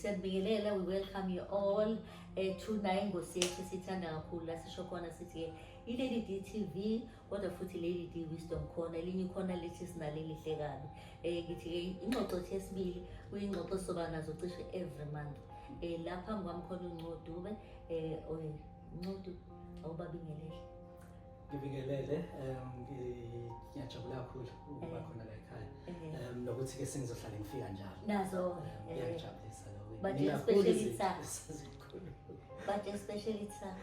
siyakubingelela we welcome you all um eh, tonight ngosi yethu sithanda kakhulu la sisho khona sithi-ke ilady d t v kodwa futhi leli di wisdom khona elinye khona lithi sinaleli hle kabi um ngithi ke ingxoxo thi esibili kuyingxoxo soba nazo cishe every month um la phambi kwami khona uncodube um eh, ncodu awubabingelele ngibingelele um ngiyajabula kakhulu ukuba eh. khona la ekhaya um nokuthi ke sengizohlale ngifika njalo nazo ngiyajabulisa lokho but especially sa but especially sa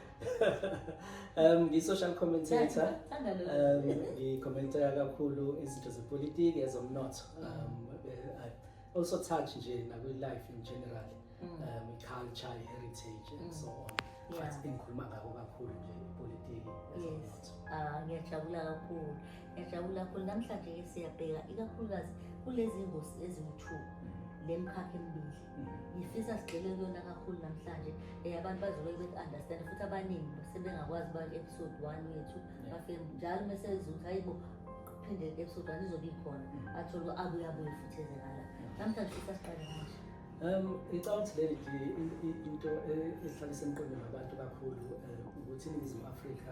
um ngi-social commentator um ngicommenta kakhulu izinto zepolitiki ezomnotho mm. um also touch nje nakwi-life in general mm. um i-culture i-heritage and mm. so on but engikhuluma ngako kakhulu nje ipolitiki ezomnotho ah, ngiyajabula kakhulu ngiyajabula kakhulu namhlanje-ke siyabheka ikakhulukazi kulezi ngosi eziwu-two le mkhakha emibili ngifisa sigxile kuyona kakhulu namhlanje um abantu bazobe beku-understand futhi abaningi sebengakwazi uba episode one wethu bafike njalo uma seziza ukuthi hayi bo phinde episode one izobe ikhona mm. athole uba abuye abuye futhi ezekala namhlanje fisa siqale manje Um ngicabanga ukuthi leli into e, ehlale semqondo nabantu kakhulu eh, ukuthi iNingizimu Afrika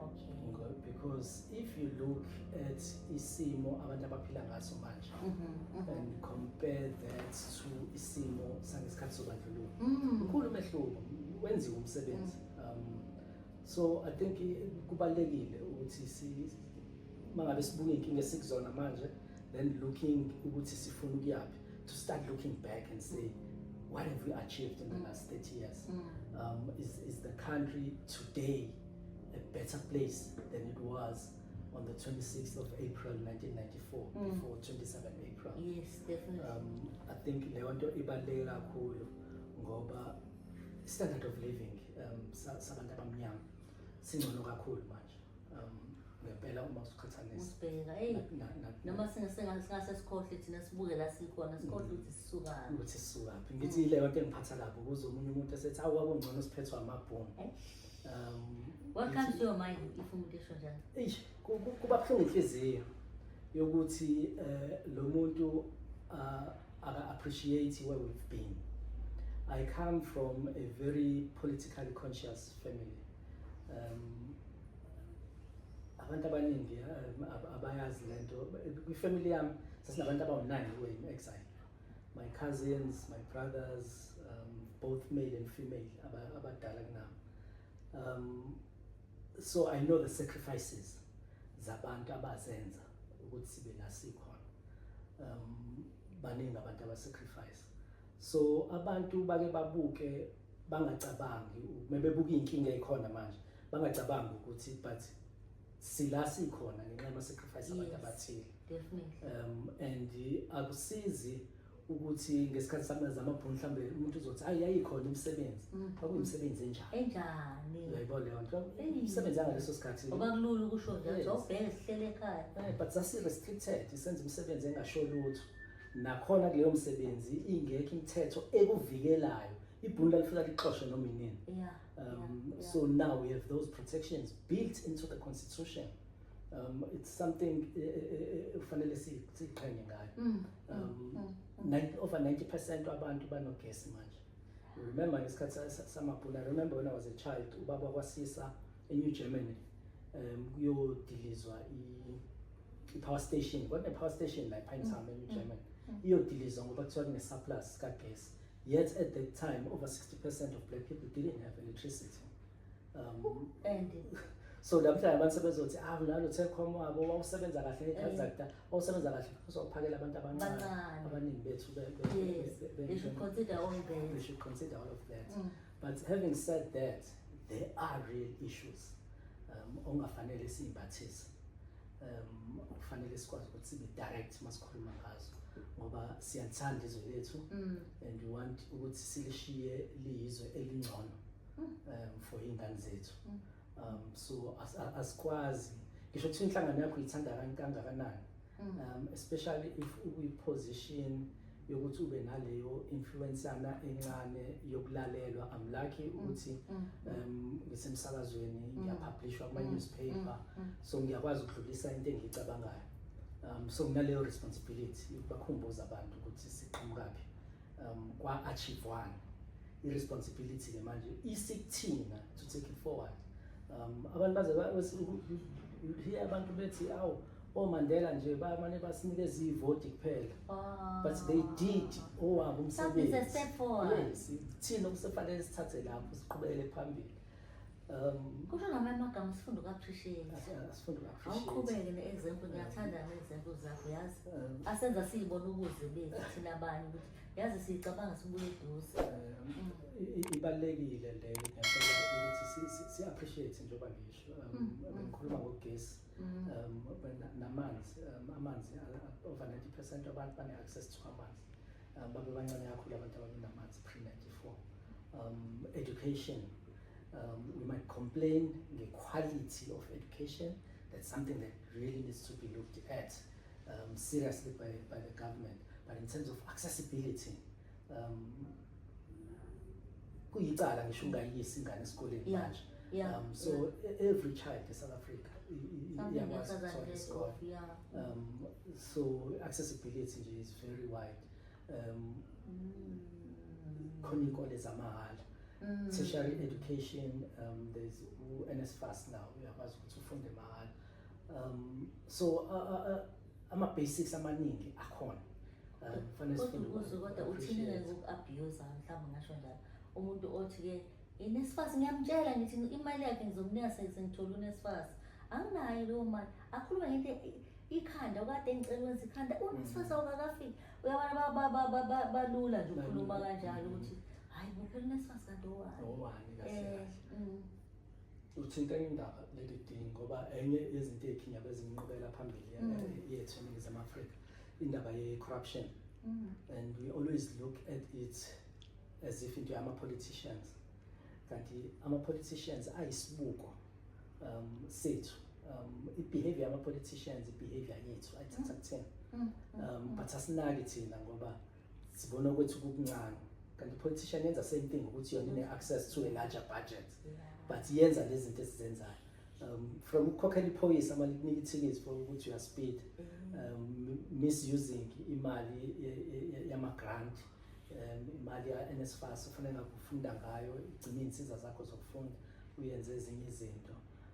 Okay. Because if you look at isimo abantu abaphila ngaso manje mm-hmm, mm-hmm. and compare that to isimo sangesikhathi sobandlululo mm. mkhulu umehluko wenziwe umsebenzi mm. um, so i think kubalekile ukuthi si mangabe sibuke inkinga esikuzona manje then looking ukuthi sifuna ukuyaphi to start looking back and say what have we achieved in the mm. last 30 years mm. um, is, is the country today a better place than it was on the 26th of April 1994 mm. before 27 April yes definitely um, I think leyo nto ibaluleke kakhulu ngoba standard of living um, sabantu abamnyama singcono kakhulu manje um, ngempela uma usuqhathanisa ubheka hey noma singase sikhohle thina sibuke la sikhona sikhohle mm. ukuthi sisukaphi ukuthi sisukaphi ngithi mm. leyo nto engiphatha kabi ukuze omunye umuntu esethi awu kwakungcono siphethwe amabhomu Um, What comes to your mind if umuntu esho njalo? Eish, ku- ku- kuba buhlungu inhliziyo yokuthi eh, lo muntu uh, aka appreciate where we've been i come from a very politically conscious family um, abantu abaningi eh, ab- abayazi lento kwifamily yami sasinabantu abawu-nine were in exile my cousins my brothers um, both male and female abadala kunami um, so i know the sacrifices zabantu abazenza ukuthi sibe la sikhona um baningi abantu abasacrifice so abantu bake babuke bangacabangi mebebuka inkinga ekhona manje bangacabangi ukuthi but sila sikhona ngenxa yama sacrifice abantu abathile definitely um and akusizi ukuthi ngesikhathi sami zama bhunu mhlambe umuntu uzothi hayi yayikhona imisebenzi mm. kwakuyisebenzi enjani enjani uyayibo leyo nto imisebenzi yangaleso sikhathi ngoba kulula ukusho nje ukuthi obheke sihlele ekhaya eh, but sasi restricted isenza imisebenzi engasho lutho nakhona kuleyo msebenzi ingekho imithetho ekuvikelayo ibhunu lalifika lixoshwe noma inini yeah Um, yeah, yeah. So now we have those protections built into the constitution. Um, it's something eh, eh, eh, fanele siqhenye ngayo. Mm, mm, um, mm, over 90% wabantu banogesi manje. Remember ngesikhathi samabhula, remember when I was a child, ubaba kwasisa eNew Germany um kuyodilizwa i-power station, kwakune-power station la ePinetown eNew Germany. Iyodilizwa ngoba kuthiwa kune-surplus kagesi. Yet at that time, over 60% of black people didn't have electricity. Um, and so namhlanje abantu sebezothi ah nalo Telkom wabo wawusebenza kahle ngekhazakta wawusebenza kahle because wawuphakela abantu abancane abaningi bethu they should consider all that they should consider all of that mm. but having said that there are real issues um ongafanele simbathise um kufanele sikwazi ukuthi sibe direct uma sikhuluma ngazo ngoba siyalithanda izwe lethu mm. and we want ukuthi silishiye liyizwe elingcono mm. um for iy'ngane zethu mm. um so asikwazi ngisho kuthiwa inhlangano yakho yithanda kangakanani um especially if uyi-position yokuthi ube naleyo influence yana encane yokulalelwa i'm lucky mm, ukuthi mm. um ngisemsakazweni mm. ngiyapublishwa kuma newspaper so ngiyakwazi ukudlulisa into engiyicabangayo um so nginaleyo responsibility yokubakhumbuza abantu ukuthi siqhamukaphi um kwa achieve one i responsibility ke manje isikuthina to take it forward um abantu baze hiya abantu bethi awu omandela nje bamane basinikeza ivoti kuphela ah. but they did owabo umsebenzi thina okusefanele sithathe lapho siqhubekele phambili um kusho ngamanye amagama sifunde uku-appreciate asifunde awuqhubeke ne-example ngiyathanda ne-example zakho yazi um, asenza siyibona ubuze bethu thina abanye ukuthi yazi siyicabanga sibuye eduze eh, ibalulekile le ngiyacela ukuthi si-appreciate njengoba ngisho um, mm, mm. bengikhuluma ngogesi mm. um, namanzi um, amanzi over 90 percent abantu bane-access to amanzi babe bancane kakhulu abantu ababenamanzi pre-94 um, education um, we might complain nge-quality of education that's something that really needs to be looked at um, seriously by, by the government but in terms of accessibility um, kuyicala ngisho ungayiyisi ingane esikoleni yeah. manje yeah. um, so yeah. E-, every child in south africa iyakwazi ukuthola isikole um, so accessibility nje is very wide um, mm. khona iy'kole zamahhala mm. tertiary education um, there's u-nsfas now uyakwazi ukuthi ufunde mahhala um so uh, uh, uh, ama basics amaningi akhona uh, kufanele sifunde ukuthi kodwa uthini ngeke uku-abuse mhlawumbe ngasho njalo umuntu othi ke inesifasi ngiyamtshela ngithi imali yakhe ngizomnika sengithole unesifasi anginayo leyo mali akhulume ngento ikhanda okade engicela wenza ikhanda unesifasi mm. awukakafiki uyabona balula nje ukhuluma kanjalo ukuthi hayi bophela unesifasi kanti owani owani kahle eh, kahle mm. Uthinta enye indaba leli dini ngoba enye yezinto ey'khinya bezinqubela phambili ya- Mm. yethu eningizimu afrika indaba ye-corruption Mm. and we always look at it as if into yama-politicians kanti ama-politicians ayisibuko um, sethu um, i-behavior yama-politicians i-behavior yethu ayithatha kuthina Mm. um, but asinaki thina ngoba sibona ukuthi kukuncane kanti politician yenza same thing ukuthi yona ine access to a larger budget but yenza lezi zinto esizenzayo um, from ukukhokhela iphoyisa mali kunika ithikithi for ukuthi uya speed mm. um, misusing imali yama grant um, imali ya NSFAS ufuna ngakufunda ngayo igcina insiza zakho zokufunda uyenze ezinye izinto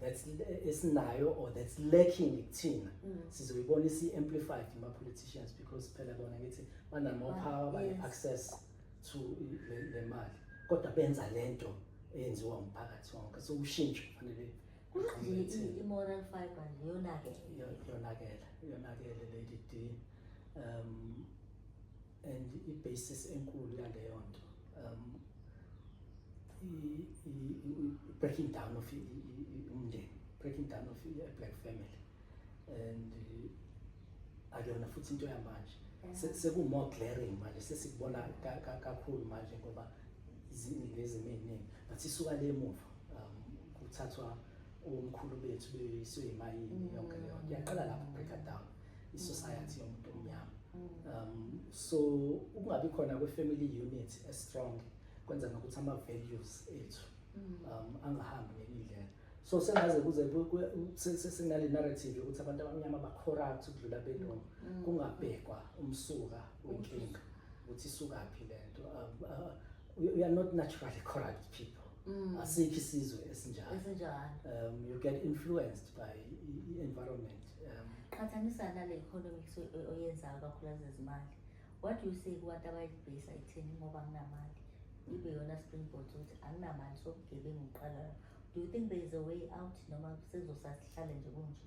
that's esinayo or that's lacking kuthina mm. sizoyibona isi amplified ma politicians because phela bona ngithi banama ah, power bane access to le mali kodwa benza lento eyenziwa umphakathi wonke so ushintsho kufanele kungathi i-moral fiber yonakele yonakele yonakele lady D um and i-basis enkulu yaleyo nto um i-breaking down of umndeni breaking down of i-black family and akuyona futhi into yamanje seku-more glaring manje sesikubona kakhulu manje ngoba iziningi ezimo ey'ningi but isuka le muva um kuthathwa omkhulu bethu beyiswe yimayini yonke leyo nto iyaqala lapho breaker down isociety yomuntu omnyama um so ukungabi khona kwe family unit e strong kwenza nokuthi ama values ethu mm. um angahambi ngendlela so sengaze kuze sinale narrative ukuthi abantu abamnyama ba corrupt ukudlula belungu mm. kungabhekwa umsuka wenkinga ukuthi isukaphi lento um, uh, we, we are not naturally corrupt people mm. asikho isizwe esinjalo um, you get influenced by i-environment um, qhathanisa nale economics oyenzayo kakhulukazi ezimali what do you say kubantu abayibhesa itheni ngoba anginamali ibe yona springboard ukuthi anginamali sobugebengu ngiqalayo do you think there is a way out noma sezosasihlale nje kunje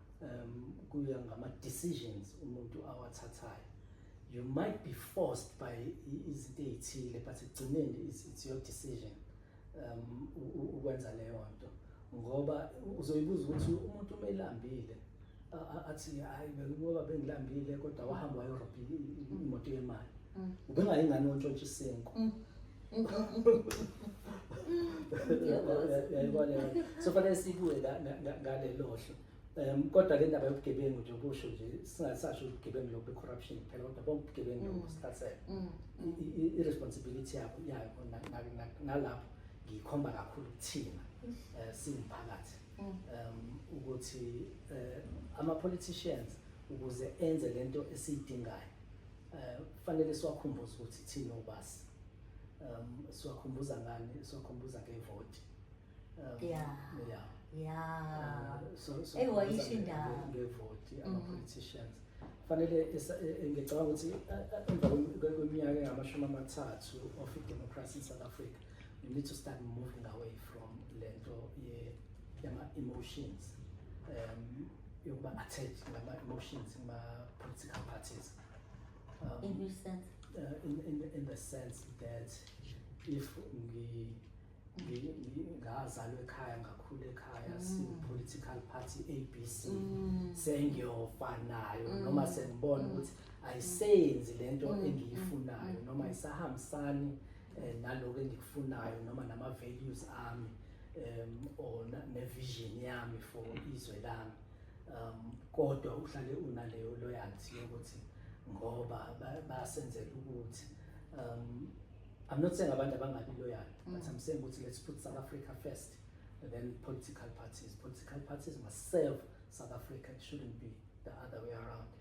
um kuya ngama decisions umuntu awathathayo you might be forced by izinto ezithile but ekugcineni it's your decision um ukwenza leyo nto ngoba uzoyibuza ukuthi umuntu uma elambile athi hayi bengiboba bengilambile kodwa wahamba wayorobha imoto yemali mm. ubengayingane ontshontsha isenko mm. so fanele sibuye ngalelohlo um kodwa le ndaba yobugebengu nje kusho nje singasasho ubugebengu lokhu be-corruption phela kodwa bonke ubugebengu mm. nokusithathela mm. i-responsibility yabo yayo nalapho ngiyikhomba kakhulu kuthina um eh, siwumphakathi mm. um ukuthi um ama-politicians ukuze enze le nto esiyidingayo Eh, kufanele siwakhumbuze ukuthi thina obasi um siwakhumbuza ngani siwakhumbuza ngevoti um, yeah yeah yeah eh, so so eyisho indaba ngevoti mm-hmm. ama politicians fanele e, e, ngicabanga ukuthi e, emva kweminyaka engamashumi amathathu of democracy in South Africa you need to start moving away from lento ye yama emotions um yokuba attached ngama emotions ma political parties um, in which sense uh, in, in in the sense that if ngi ngazalwa ekhaya ngakhulu ekhaya mm. sipolitical party abc mm. sengiyofanayo mm. noma sengibona ukuthi ayisenzi lento engiyifunayo noma isahambisani eh, naloko engikufunayo noma nama values ami um or ne vision yami for izwe lami um kodwa uhlale unaleyo loyalty yokuthi ngoba basenzela ukuthi um I'm not saying abantu abangabi loyal but mm. I'm saying ukuthi let's put South Africa first and then political parties political parties must serve South Africa it shouldn't be the other way around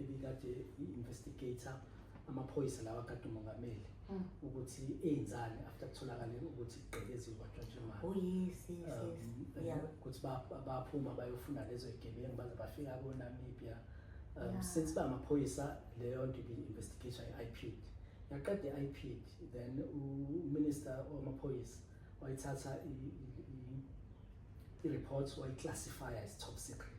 ebikade i-investigator amaphoyisa lawa kade umongameli mm. ukuthi eyenzani after kutholakale ukuthi kugqekeziwe kwatshantsha oh, um, eh, ukuthi baphuma bayofuna lezo yigebengu baze bafika konamibia um, since ba amaphoyisa leyo nto i-investigation i-ipid yaqeda i-ipid then uminister wamaphoyisa wayithatha i-report wayiklassifya as top secret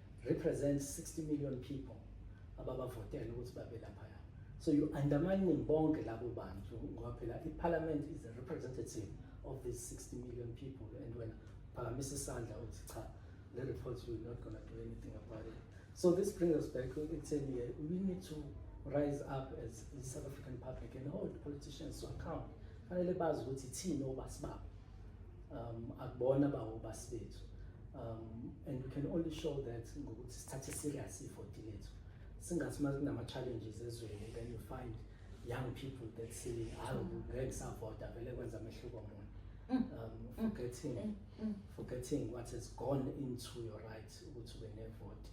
represent 60 million people ababavotela ukuthi babe laphaya so you undermining bonke labo bantu ngoba phela i-parliament is a representative of these 60 million people and wena phakamisa isandla uthi cha the report you are not going to do anything about it so this brings us back ekutheni eh, we need to rise up as the south african public and hold politicians to account fanele bazi ukuthi thina obasibabo um akubona bawo basibethu um and we can only show that ngokuthi sithathe serious ifoti lethu singathi uma kunama challenges ezweni then you find young people that say hayi mm. ngeke savota vele kwenza amehluko mona mm. um mm. forgetting mm. forgetting what has gone into your right ukuthi ube nevote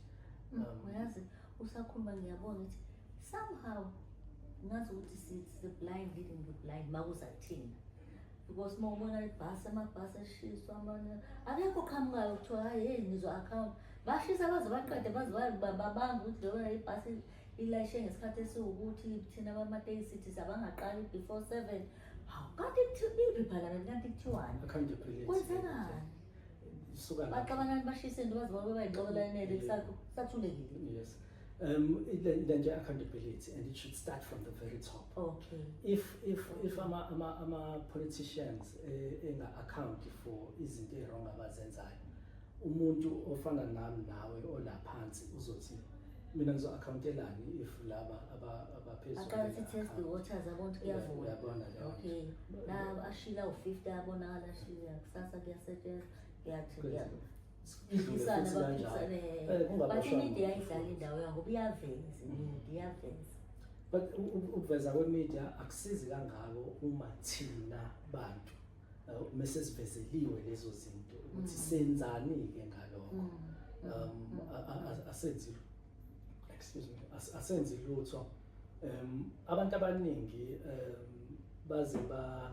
um uyazi usakhuluma ngiyabona ukuthi somehow ngazi ukuthi it's the blind leading the blind makuzathina because uma ubona ibhasi amabhasi eshiswa amanye akekho qhamukayo kuthiwa hayi heyi ngizo-account bashisa baze baqede baze babanga ukuthi leyo ibhasi ilayishe ngesikhathi esiwukuthi thina bamatekisithi sabangaqali before seven hawu kanti ibi phalameni kanti kuthiwani kwenzenani baxabanani bashise into baze babe bayinxokolanele kusathulekile um le nje accountability and it should start from the very top okay if if if ama ama ama politicians eh, enga account for izinto ezirong abazenzayo umuntu ofana nami nawe olaphansi uzothi mina ngizo accountelani if laba abaphezulu akanti test the waters abantu kuyavuma uyabona leyo okay la ashila u50 abonakala ashila kusasa kuyasetshenzwa kuyathi kuyathi but ukuveza kwemedia akusizi kangako uma thina bantu uh, mese sivezeliwe lezo zinto ukuthi mm. senzani ke ngalokho mm. um mm. asenzi excuse me asenzi lutho um abantu abaningi um baze ba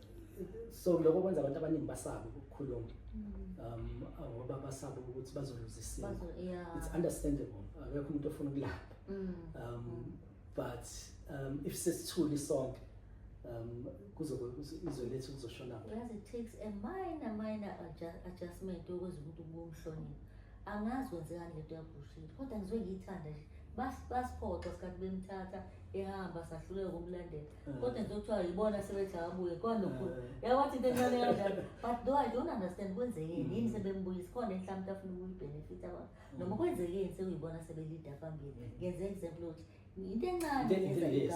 so lokho kwenza abantu abaningi basabe ukukhuluma mm. um ngoba basabe ukuthi bazoluzisina it's understandable akekho umuntu ofuna ukulapha mm. um mm. but um if sesithuli sonke um kuzobe izwe lethu kuzoshona yazi it takes a minor minor adjustment ukuze umuntu ubumhloniphe angazi kwenzekani lento yabushile kodwa ngizwe ngiyithanda nje basiphoxa sikhathi bemthatha ehamba sahluleka ukumlandela Mm. Kodwa nje kuthiwa yibona sebethi akabuye kwanokhulu mm. yawathi into encane kanjalo but though i don't understand kwenzekeni mm. yini sebembuyisa khona enhlampe afuna ukuyibhenefit abantu noma kwenzekeni sekuyibona sebelida phambili ngenze example ukuthi into encane eh,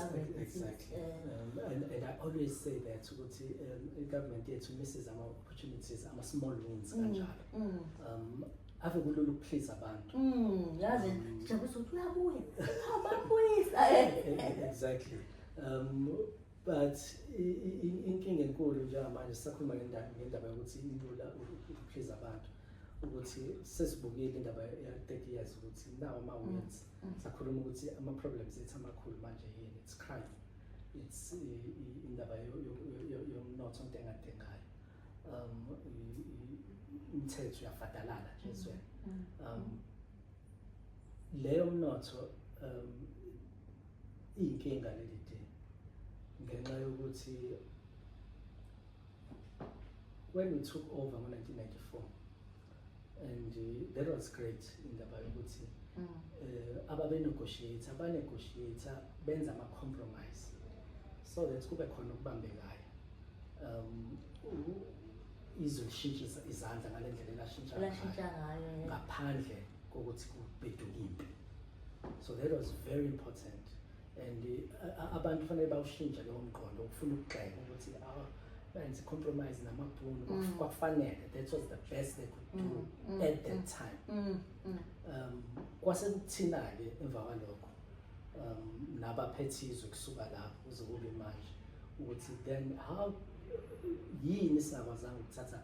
um, and i always say that ukuthi um, i-government yethu misses ama-opportunities ama-small wins kanjalo um, ave kulula ukuphliza abantu mm yazi jabuse ukuthi uyabuya ababuyisa exactly um but inkinga enkulu njengamanje sisakhuluma ngendaba ngendaba yokuthi ilula ukuphliza abantu ukuthi sesibukile indaba ya-30 years ukuthi nawo ama-wins mm, mm. sakhuluma ukuthi ama-problems ethu amakhulu manje yini it's crime it's indaba yomnotho into engadengayo um umthetho uyafadalala nje ezweni mm. um leyo mnotho um iyinkinga leli de ngenxa yokuthi when we took over ngo-1994 and uh, that was great indaba yokuthi mm. eh, ababenegotiate abanegotiate benza ama-compromise so that kube khona okubambekayo um izwe lishintshe izandla ngale ndlela elashintsha ngayo ngaphandle kokuthi kubheduke impi so that was very important and uh, abantu fanele bawushintshe leyo mqondo ukufuna ukugxeka ukuthi awa benze compromise namabhunu mm. kwakufanele that was the best they could do mm, mm, at that time um kwase kuthina-ke emva kwalokho um naphethe izwe kusuka lapho kuze kube manje ukuthi then how yini sakwazanga ukuthatha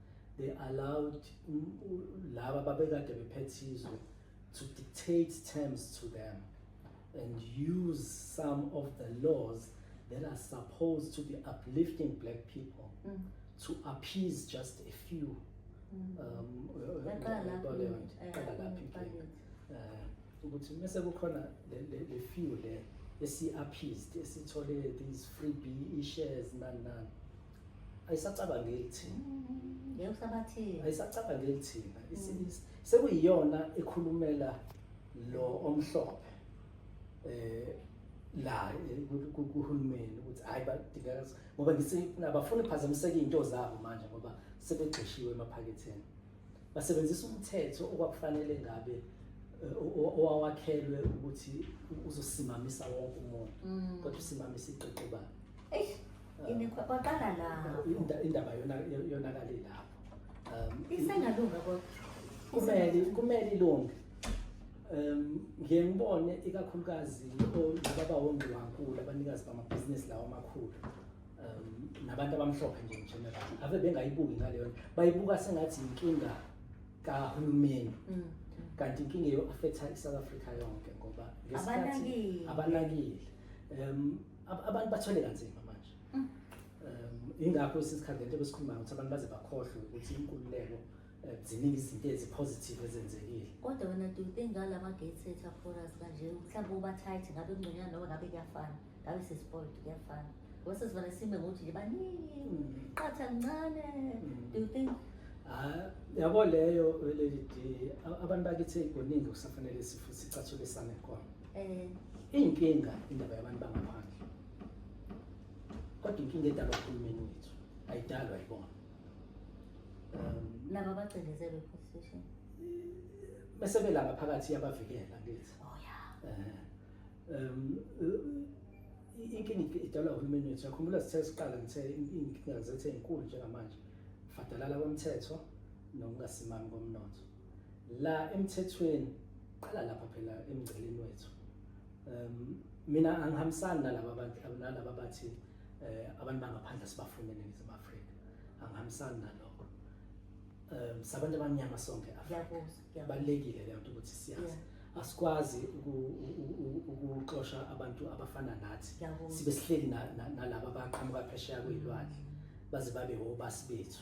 they allowed laba babekade bephethe izwe to dictate terms to them and use some of the laws that are supposed to be uplifting black people mm. to appease just a few mm. um, ukuthi mese kukhona le few le esi-appeased esithole these free b e-shares nani nani ayisacabangeli thina ngeyokusabathini ayisacabangeli thina isilisa sekuyiyona ekhulumela lo omhlophe eh la kuhulumeni ukuthi hayi badingeka ngoba ngisifuna abafuni phazamiseka into zabo manje ngoba sebegxishiwe emaphaketheni basebenzisa umthetho okwakufanele ngabe owawakhelwe ukuthi uzosimamisa wonke umuntu mm. kodwa usimamisa iqeqebana Imikhwa kwaqala la. Inda- indaba yona- yo- yonakale lapho um, Isengalunga kodwa. kumele kumele ilunge um ngiye ngibone ikakhulukazi o- laba bawongiwankulu abanikazi bamabhizinisi lawo amakhulu um nabantu abamhlophe nje ngegeneral ave bengayibuki ngaleyo nto. bayibuka sengathi yinkinga kahulumeni Mm. kanti inkinga eyo-affectha i-south africa yonke ngoba ngesikhathi- Abanakile. abanakile um abantu bathwele kanzima manje mm. um ingakho isikhathi lento besikhuluma ukuthi abantu baze bakhohlwe ukuthi inkululeko eh, ziningi izinto ezipositive ezenzekile kodwa wena do you think ngala ma-gate setter foras kanje mhlawumbe uba-tight ngabe kungconyana noma ngabe kuyafana ngabe sespoiled kuyafana ngoba sesivane sime ngokuthi nje baningi mm. qatha kuncane mm. do you think Ah, yabo leyo lady abantu bakithi kuningi kusafanele sicathule sane khona Eh, inkinga indaba yabantu bangaphandle. Kodwa inkinga edalwa uhulumeni wethu ayidalwa yibona. Um, laba bacindezelwe position. Bese belaba phakathi yabavikela ngithi. Oh yeah. Eh. Um inkinga idalwa uhulumeni wethu. Yakhumbula sithe siqala ngithe inkinga zethe inkulu njengamanje. Fadalala komthetho nokungasimami komnotho. la emthethweni qala lapha phela emngceleni wethu um mina angihambisani nalaba abantu nalaba bathi eh, abantu bangaphandle sibafune eNingizimu Afrika angihambisani nalokho um sabantu abamnyama sonke kubalulekile leyo nto ukuthi siyazi asikwazi ukuxosha abantu abafana nathi sibe sihleli nalaba abaqhamuka phesheya kweyilwandle baze babe wobasi bethu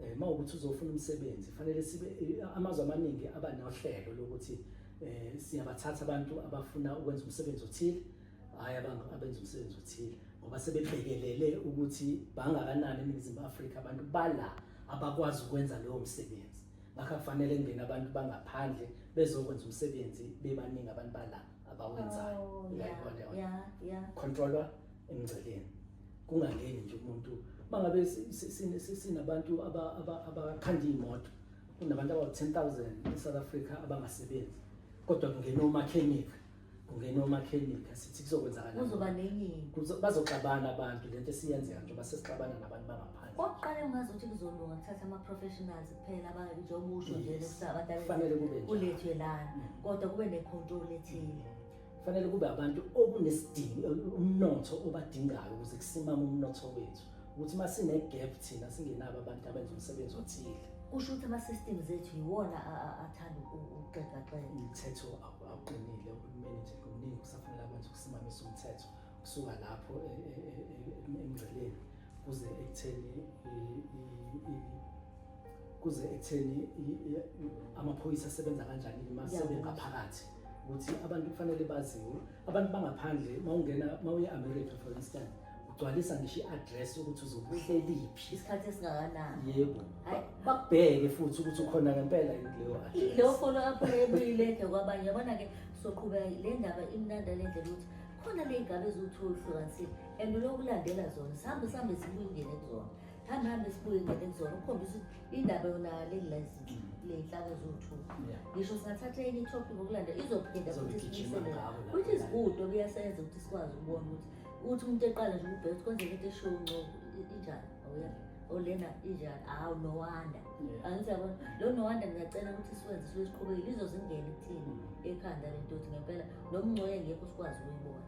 eh uma ukuthi uzofuna umsebenzi fanele sibe eh, amazwe amaningi aba nohlelo lokuthi eh siyabathatha abantu abafuna ukwenza umsebenzi othile hayi abantu abenza umsebenzi othile ngoba sebebhekelele ukuthi bangakanani eNingizimu Afrika abantu bala abakwazi ukwenza leyo msebenzi ngakho kufanele kungena abantu bangaphandle bezokwenza umsebenzi bebaningi abantu bala abawenzayo oh, yeah, yeah, yeah. controller emngceleni kungangeni nje umuntu mangabe sinabantu abakhanda iy'moto kunabantu abawu-ten thousand e-south africa abangasebenzi kodwa kungena omakhenika kungena omakhenika sithi kuzokwenzakalbazoxabana abantu le nto esiyenzeka njengoba sesixabana nabantu bangaphandle kokuqala ungazi ukuthi kuzolunga kuthatha ama-professionals kuphela njengoba usho nje abantu kulethwe lana mm. kodwa kube ne-control ethile Kufanele kube abantu okunesidingo umnotho obadingayo ukuze kusimame umnotho wethu. Ukuthi uma sine gap thina singenabo abantu abenza umsebenzi othile. Kusho ukuthi ama systems ethu yiwona athanda ukuxega xega. Umthetho awuqinile uhulumeni nje kuningi kusafanele akwenze ukusimamisa umthetho kusuka lapho e, e, e, emgceleni kuze ekutheni kuze ekutheni amaphoyisa asebenza kanjani uma sebengaphakathi ukuthi abantu kufanele baziwe abantu bangaphandle mawungena mawuye America for instance ugcwalisa ngisho i-address ukuthi uzokuhleliphi isikhathi esingakanani yebo bakubheke futhi ukuthi ukhona ngempela leyo address leyo follow up ebuyileke kwabanye yabona ke soqhubeka le ndaba imnanda le ndlela ukuthi khona le ngabe eziwuthi uhlukanisile and ulokulandela zona sihambe sihambe sibuyingene kuzona Hamba hamba sibuye ngeke kuzona ukukhombisa ukuthi indaba yona leli license le nhlaka zothu. Yeah. Ngisho singathatha enye topic ngokulanda izophinda futhi Izogijima sibuyisele. ngawo la. Which is good okuyasenza ukuthi sikwazi ukubona ukuthi ukuthi umuntu eqala nje ukubheka ukuthi kwenzeka into eshiwo uncobo i- injani awuya olena injani awu no wonder Yeah. angithi yabona lo no wonder ngiyacela ukuthi siwenze sibe siqhubekile izozingena ekuthini ekhanda lento ukuthi ngempela nomngcoye ngekho sikwazi ukuyibona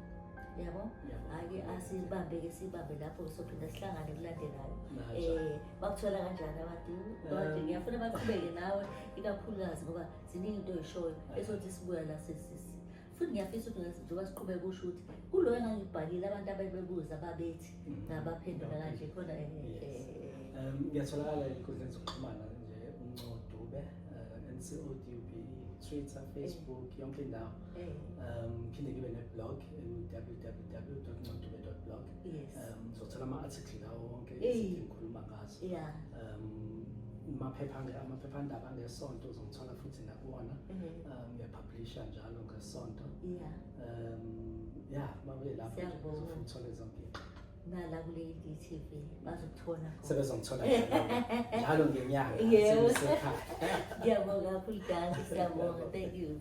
yabo hhayi asibambeke sibambe lapho sophinda sihlangane kulandelayo um bakuthola kanjani abantu abantu eh. ngiyafuna baqhubeke nawe ikakhulukazi ngoba ziningi into oyishoyo esothi sibuya la sesisi futhi ngiyafisa ukuthi njengoba siqhubeke kusho ukuthi kuloyo engangibhalile abantu abebebuza babethi mm. ngabaphendula kanje khona eh, eh, ngiyatholakala enkundleni zokuxhumana nje umncodube ncodube twitter facebook yonke indawo Eh. um phinde ngibe ne-blog www ncodube blog um zothola ama-article lawo wonke izinto engikhuluma ngazo um maphepha amaphephandaba angesonto uzongithola futhi nakuwona mhm. um ngiyapublisha njalo ngesonto um ya mabuye lapho uzofuna zonke nala kule DTV bazokuthola khona sebezongithola njalo ngenyanga yebo ngiyabonga kakhulu guys siyabonga thank you